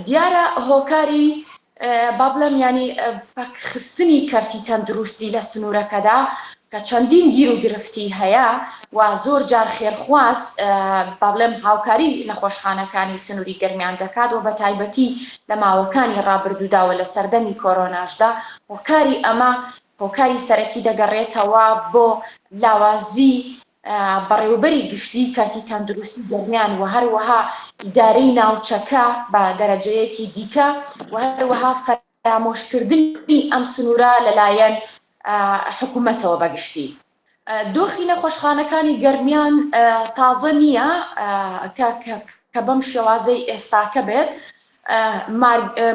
دیارە هۆکاری با بڵێم ینی پەکخستنی کەرتی تەندروستی لە سنوورەکەدا کە چەندین گیر و گرفتی هەیە و زۆر جار خێرخواز با بڵێم هاوکاری نەخۆشخانەکانی سنووری گەرمیان دەکات و بە تایبەتی لە ماوەکانی ڕابردووداوە لە سەردەمی کۆرۆناشدا هۆکاری ئەمە هۆکاری سەرەکی دەگەڕێتەوە بۆ لاوازی بەڕێوەبەری گشتیی کەرتی تەندروستی گەرمیان و هەروەها ئیدارەی ناوچەکە بە دەرەجەیەکی دیکە و هەروەها فەرامۆشکردنی ئەم سنوورە لەلایەن حکوومەتەوە بە گشتی. دۆخی نەخۆشخانەکانی گەرمیان تازە نییە کە بەم شێوازەی ئێستاکە بێت،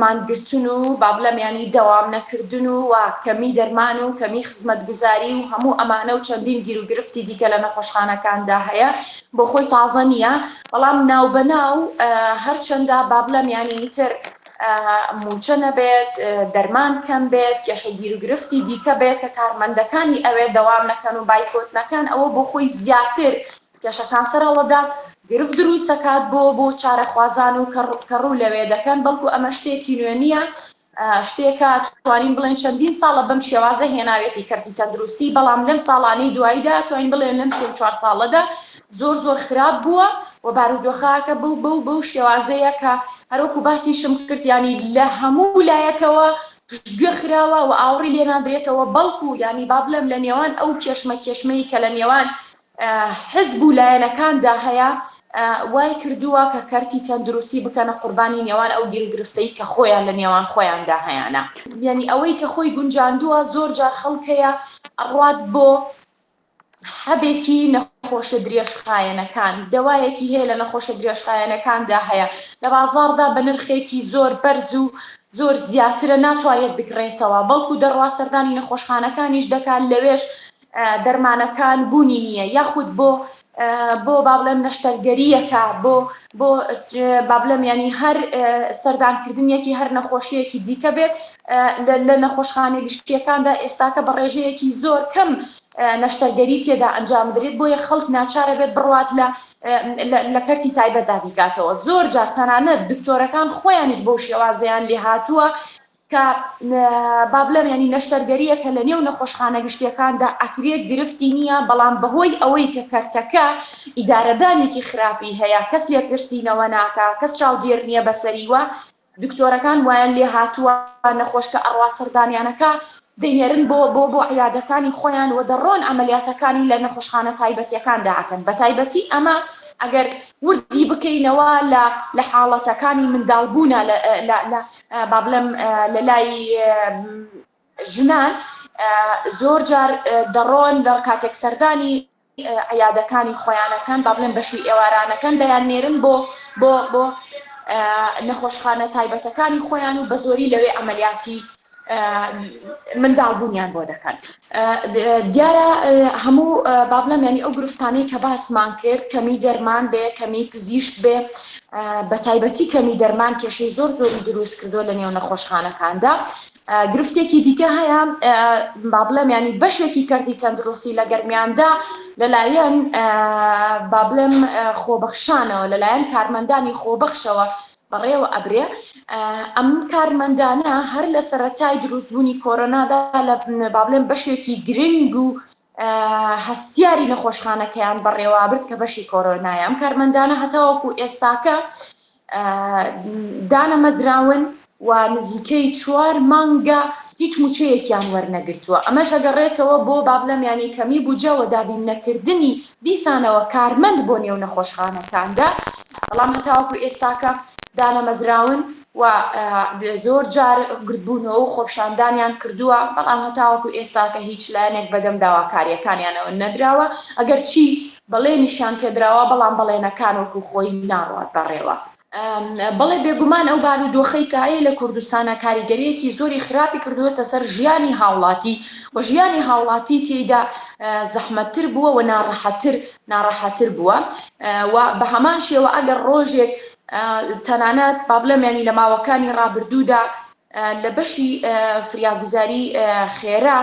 مانگرتن و با بڵێم یانی دەوام نەکردن و و کەمی دەرمان و کەمی خزمەتگوزاری و هەموو ئەمانە و چەندین گیروگرفتی دیکە لە نەخۆشخانەکاندا هەیە بۆ خۆی تازە نییە بەڵام ناو بە ناو هەرچەندە با بڵێم یانی تر موچە نەبێت دەرمان کەم بێت کێشە گیروگرفتی دیکە بێت کە کارمەندەکانی ئەوێ دەوام نەکەن و بایکۆت نەکەن ئەوە بۆ خۆی زیاتر کێشەکان سەرهەڵەدا گرفت دروست دەکات بۆ بۆ چارەخوازان و کە ڕوو لەوێ دەکەن بەڵکو ئەمە شتێکی نوێ نییە شتێکە توانین بڵێن چەندین ساڵە بەم شێوازە هێناوێتی کەرتی تەندروستی بەڵام لەم ساڵانەی دواییدا توانین بڵێن لەم سێ چوار ساڵەدا زۆر زۆر خراپ بووە و بارودۆخەکە بەو بەو بەو شێوازەیە کە هەروەکو باسیشم کردیانی لە هەموو لایەکەوە گوێ خراوە و ئاوڕی لێنادرێتەوە بەڵکو ینی با بڵێم لە نێوان ئەو کێشمە کێشمەی کە لە نێوان حزب و لایەنەکاندا هەیە وایکردووە کە کەرتی تەندروستی بکەنە قوربانی نێوان ئەو گیروگرفتەی کە خۆیان لە نێوان خۆیاندا هەیانە یانی ئەوەی کە خۆی گونجاندووە زۆر جار خەڵک هەیە ئەڕوات بۆ حەبێکی نەخۆشە درێژخایەنەکان دەوایەکی هەیە لە نەخۆشە درێژخایەنەکاندا هەیە لە بازاڕدا بە نرخێکی زۆر بەرز و زۆر زیاترە ناتوانێت بکڕێتەوە بەڵکو دەڕوا سەردانی نەخۆشخانەکانیش دەکات لەوێش دەرمانەکان بوونی نییە یاخود بۆ بۆ بابلم نەشتەرگەریەکە بۆ بۆ بابلم ینی هەر سەردانکردنیەکی هەر نەخۆشیەکی دیکە بێت لە نەخۆشخانە گشتیەکاندا ئێستاکە بە ڕێژەیەکی زۆر کەم نەشتەرگەری تێدا ئەنجام بدرێت بۆیە خەڵک ناچارە بێت بڕوات لە لە کەرتی تایبەتدا بیکاتەوە زۆر جار تەنانەت دکتۆرەکان خۆیانیش بۆ شێوازیان لێ هاتووە کە با بڵێم یانی نەشتەرگەرییەکە لە نێو نەخۆشخانە گشتییەکاندا ئەکرێت گرفتی نییە، بەڵام بەهۆی ئەوەی کە کەرتەکە ئیدارەدانێکی خراپی هەیە، کەس لێپرسینەوە ناکا، کەس چاودێر نییە بەسەری و دکتۆرەکان وایان لێهاتووە نەخۆشکە ئەڕوا سەردانیانەکە دەینێرن بۆ بۆ بۆ عیادەکانی خۆیان و دەڕۆن عەمەلیاتەکانی لە نەخۆشخانە تایبەتییەکاندا ئەکەن، بەتایبەتی ئەمە ئەگەر وردی بکەینەوە لە لە حاڵەتەکانی منداڵبوونا لە لە با بڵێم لە لای ژنان زۆر جار دەڕۆن لەڕ کاتێک سەردانی عیادەکانی خۆیانەکان با بڵێن بەشی ئێوارانەکان دەیان نێرن بۆ بۆ بۆ نەخۆشخانە تایبەتەکانی خۆیان و بە زۆری لەوێ ئەمەلیاتی منداڵبوونیان بۆ دەکەن دیارە هەموو با بڵێم یانی ئەو گرفتانەی کە باسمان کرد کەمی دەرمان بێ کەمی پزیشک بێ بە تایبەتی کەمی دەرمان کێشەی زۆر زۆری دروست کردو لە نێو نەخۆشخانەکاندا گرفتێکی دیکە هەیە با بڵێم ینی بەشێکی کەرتی تەندروستی لە گەرمیاندا لەلایەن با بڵێم خۆبەخشانەوە لەلایەن کارمەندانی خۆبەخشەوە بەڕێوە ئەبرێ، ئەم کارمەندانە هەر لە سەرەتای دروستبوونی کۆرۆنادا لە با بڵێم بەشێکی گرنگ و هەستیاری نەخۆشخانەکەیان بەڕێوابرد کە بەشی کۆرۆنایە ئەم کارمەندانە هەتاوەکو ئێستاکە دانەمەزراون و نزیکەی چوار مانگە هیچ موچەیەکیان وەرنەگرتووە ئەمەش دەگەڕێتەوە بۆ بابلەمیانی کەمی بوجە و دابین نەکردنی دیسانەوە کارمەند بۆ نێو نەخۆشخانەکاندا، بەڵام هەتاوەکو ئێستاکە دانەمەزراون و زۆر جار گردبوونەوە و خۆپیشاندانیان کردووە، بەڵام هەتاوەکو ئێستاکە هیچ لایەنێک بەدەم داواکارییەکانیانەوە نەدراوە، ئەگەرچی بەڵێنیشیان پێدراوە، بەڵام بەڵێنەکان وەکو خۆی ناڕوات بەڕێوە. بەڵێ بێگومان ئەو بارودۆخەی کە هەیە لە کوردستانە کاریگەریەکی زۆری خراپی کردوێتە سەر ژیانی هاوڵاتی و ژیانی هاوڵاتی تێیدا زەحمەتتر بووە و ناڕەحەتتر ناڕەحەتتر بووە و بە هەمان شێوە ئەگەر ڕۆژێک تەنانەت با بڵێم ینی لە ماوەکانی ڕابردوودا لە بەشی فریاگوزاری خێرا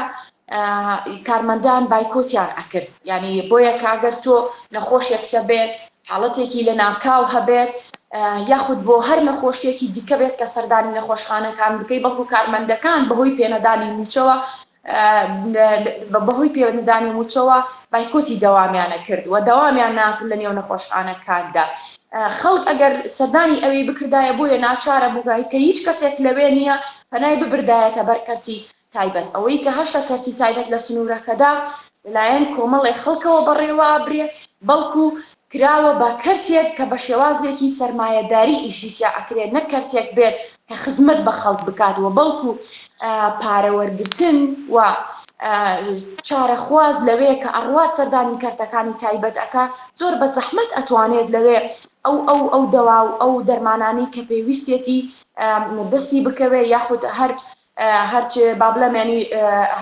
کارمەندان بایکۆتیان ئەکرد ینی بۆیە کاگەر تۆ نەخۆشێکتە بێت حاڵەتێکی لەناکاو هەبێت یاخود بۆ هەر نەخۆشییەکی دیکە بێت کە سەردانی نەخۆشخانەکان بکەی بەڵکو کارمەندەکان بەهۆی پێنەدانی مووچەوە بەهۆی پێوەنددانی مووچەوە بایکۆتی دەوامیانە کرد و دەوامیان ناکرد لە نێو نەخۆشخانەکاندا خەڵک ئەگەر سەردانی ئەوی بکردایە بۆیە ناچارە بووگایکە هیچ کەسێک لەوێ نییە پەنای ببردایەتە بەرکەرتی تایبەت، ئەوەی کە هەشە کەرتی تایبەت لە سنوورەکەدا لەلایەن کۆمەڵێ خەڵکەوە بەڕێوابرێ، بەڵکو کراوە بە کەرتێک کە بە شێوازێکی سەرمایەداری ئیشی تیا ئەکرێ، نەک کەرتێک بێ کە خزمەت بە خەڵک بکات و بەڵکو پارە وەرگرتن و چارەخواز لەوێ کە ئەڕوات سەردانی کەرتەکانی تایبەت ئەکا، زۆر بە زەحمەت ئەتوانێت لەوێ ئەو ئەو ئەو دەوا و ئەو دەرمانانەی کە پێویستێتی دەستی بکەوێ یاخود هەر هەرچ با بڵێم یانی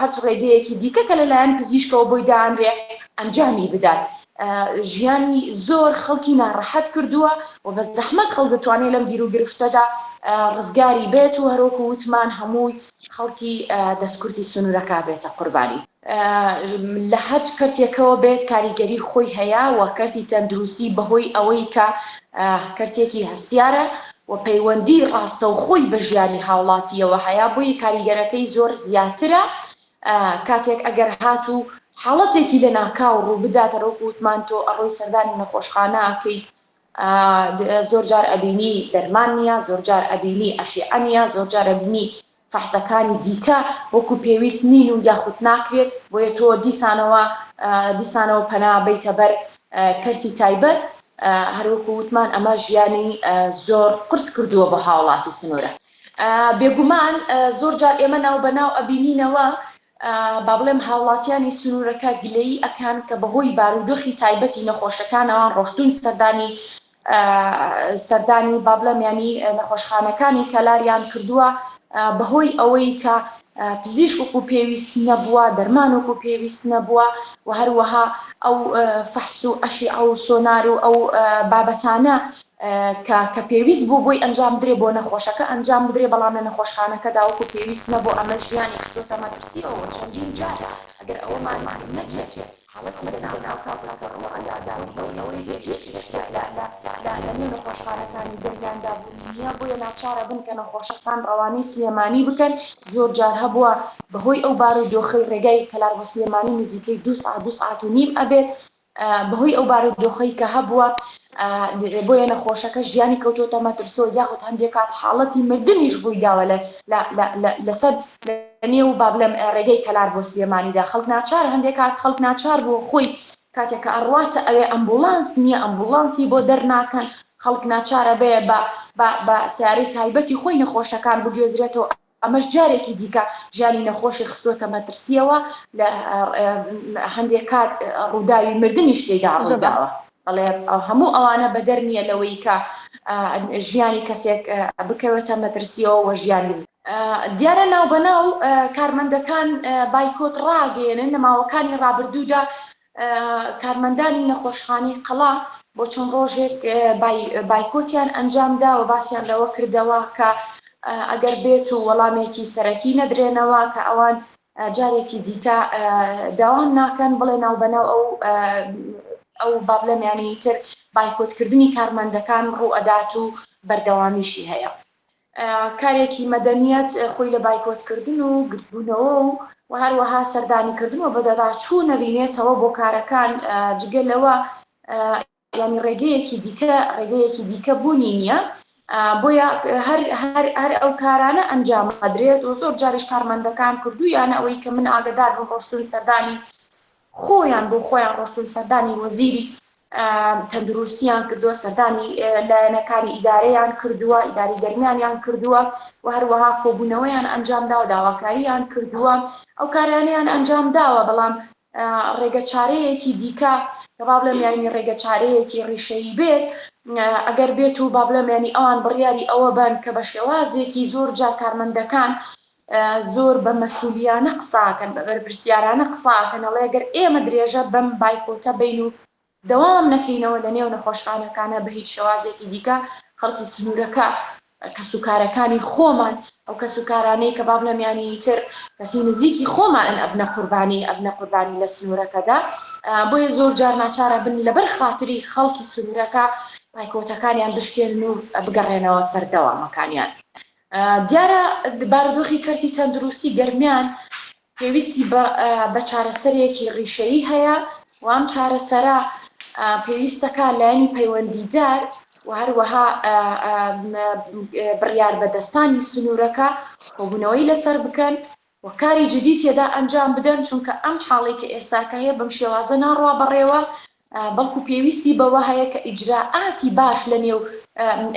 هەرچ ڕێگەیەکی دیکە کە لەلایەن پزیشکەوە بۆی دانرێ ئەنجامی بدات ژیانی زۆر خەڵکی ناڕەحەت کردووە و بە زەحمەت خەڵک دەتوانێت لەم گیر و گرفتەدا ڕزگاری بێت و هەروەکو وتمان هەمووی خەڵکی دەستکورتی سنوورەکە بێتە قوربانی. لە هەرچ کەرتێکەوە بێت کاریگەری خۆی هەیە و کەرتی تەندروستی بەهۆی ئەوەی کە کەرتێکی هەستیارە و پەیوەندی ڕاستەوخۆی بە ژیانی هاوڵاتیەوە هەیە بۆیە کاریگەرەکەی زۆر زیاترە کاتێک ئەگەر هات و حاڵەتێکی لە ناکاو ڕوو بدات ڕۆک وتمان تۆ ئەڕۆی سەردانی نەخۆشخانە ئەکەیت زۆر جار ئەبینی دەرمان نییە زۆر جار ئەبینی ئەشیعە نیە زۆر جارە بینی فەحسەکانی دیکە وەکو پێویست نین و یاخود ناکرێت، بۆیە تۆ دیسانەوە دیسانەوە پەنا بەیتە بەر کەرتی تایبەت، هەروەکو وتمان ئەمە ژیانی زۆر قورس کردووە بۆ هاوڵاتی سنورە. بێگومان زۆر جار ئێمە ناو بە ناو ئەبینینەوە با بڵێم هاوڵاتیانی سنورەکە گلەیی ئەکەن کە بەهۆی بارودۆخی تایبەتی نەخۆشەکانەوە ڕۆشتوون سەردانی سەردانی با بڵێم یانی نەخۆشخانەکانی کەلاریان کردووە بەهۆی ئەوەی کە پزیشک وەکو پێویست نەبووە دەرمان وەکو پێویست نەبووە و هەروەها ئەو فەحس و ئەشی ئەو سۆنار و ئەو بابەتانە کە پێویست بوو بۆی ئەنجام بدرێ بۆ نەخۆشەکە ئەنجام بدرێ بەڵام لە نەخۆشخانەکە داوەکو پێویست نەبوو ئەمە ژیانی خستۆتە مەترسیەوە چەندین جار ئەگەر ئەوەمان نەچێت حاڵەتی جەنگ لە ناوکاتێک دەڕوا یا دەڕووی بەوەی هێرشی شیعە لە نێو نەخۆشخانەکانی گەرمیاندا بوونی نییە، بۆیە ناچارە بن کە نەخۆشەکان ڕەوانەی سلێمانی بکەن، زۆر جار هەبووە بەهۆی ئەو بارودۆخەی ڕێگای کەلار بۆ سلێمانی نزیکەی دوو سەعات دوو سەعات و نیم ئەبێت بەهۆی ئەو بارودۆخەی کە هەبووە بۆیە نەخۆشەکە ژیانی کەوتۆتە مەترسۆ یاخود هەندێک کات حاڵەتی مردنیش ڕوویداوە لەسەر لە نێو با بڵێم ڕێگەی کەلار بۆ سلێمانیدا خەڵک ناچار هەندێک کات خەڵک ناچار بووە خۆی کاتێک کە ئەڕواتە ئەوێ ئەمبوڵانس نییە ئەمبوڵانسی بۆ دەرناکەن خەڵک ناچارە بێ بە بە بە سیارەی تایبەتی خۆی نەخۆشەکان بگوێزرێتەوە ئەمەش جارێکی دیکە ژیانی نەخۆشی خستووەتە مەترسیەوە لە هەندێک کات ڕووداوی مردنیش تێدا ڕووداوە بەڵێ هەموو ئەوانە بەدەر نییە لەوەی کە ژیانی کەسێک بکەوێتە مەترسیەوە وە ژیانی دیارە ناوبەناو کارمەندەکان بایکۆت ڕاگەیەنن لە ماوەکانی ڕابردوودا کارمەندانی نەخۆشخانی قەڵا بۆ چەند ڕۆژێک بایکۆتیان ئەنجامدا و باسییان لەوە کردەوە کە ئەگەر بێت و وەڵامێکی سەرەکی نەدرێنەوە کە ئەوان جارێکی دیکە داوام ناکەن بڵێ ناوبەناو ئەو ئەو بابلەمیانی تر بایکۆتکردنی کارمەندەکان ڕوو ئەدات و بەردەوامیشی هەیە. کارێکی مەدەنیەت خۆی لە بایکۆتکردن و گردبوونەوە و و هەروەها سەردانیکردن و بەدەداچوو نەبینێتەوە بۆ کارەکان جگە لەوە ینی ڕێگەیەکی دیکە ڕێگەیەکی دیکە بوونی نییە بۆیە هەر هەر هەر ئەو کارانە ئەنجام ئەدرێت و زۆر جاریش کارمەندەکان کردو یانە ئەوەی کە من ئاگدار بم ڕۆشتوی سەردانی خۆیان بۆ خۆیان ڕۆشتون سەردانی وەزیری تەندروستیان کردووە سەردانی لایەنەکانی ئیدارەیان کردووە ئیداری گەرمیانیان کردووە و هەروەها کۆبوونەوەیان ئەنجام داوە داواکاریان کردووە ئەو کارانیان ئەنجام داوە بەڵام ڕێگە چارەیەکی دیکە کە با بڵێم یانی ڕێگە چارەیەکی ڕیشەیی بێت ئەگەر بێت و با بڵێم ینی ئەوان بڕیاری ئەوە بن کە بە شێوازێکی زۆر جا کارمەندەکان زۆر بە مەسولیانە قساکەن بە بەرپرسیارانە قساکەن ئەڵێ گەر ئێمە درێژە بەم بایکۆتە بەین و دەوام نەکەینەوە لە نێو نەخۆشخانەکانە بە هیچ شێوازێکی دیکە خەڵکی سنورەکە کەس و کارەکانی خۆمان ئەو کەس و کارانەی کە بابلەم یانی تر کەسی نزیکی خۆمانن ئەبنە قوربانی ئەبنە قوربانی لە سنورەکەدا بۆیە زۆر جار ناچارە بن لەبەر خاتری خەڵکی سنورەکە بایکۆتەکانیان بشکێن و بگەڕێنەوە سەردەوامەکانیان دیارە بارودۆخی کەرتی تەندروستی گەرمیان پێویستی بە چارەسەرێکی ڕیشەیی هەیە و ئەم چارەسەرە پێویستەکە لایەنی پەیوەندیدار و هەروەها بڕیاربەدەستانی سنوورەکە کۆبوونەوەی لەسەر بکەن و کاری جدی تێدا ئەنجام بدەن، چونکە ئەم حاڵەی کە ئێستاکە هەیە بەم شێوازە ناڕوا بەڕێوە، بەڵکو پێویستی بەوە هەیە کە ئیجرائاتی باش لەنێو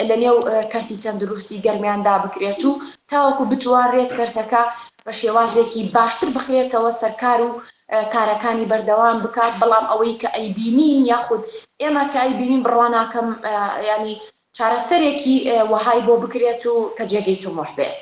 لەنێو کەرتی تەندروستی گەرمیاندا بکرێت و تاوەکو بتوانرێت کەرتەکە بە شێوازێکی باشتر بخرێتەوە سەرکار و کارەکانی بەردەوام بکات، بەڵام ئەوەی کە ئەیبینین یاخود ئێمە کە ئەیبینین بڕوا ناکەم یانی چارەسەرێکی وەهای بۆ بکرێت و کە جێگەی تموح بێت.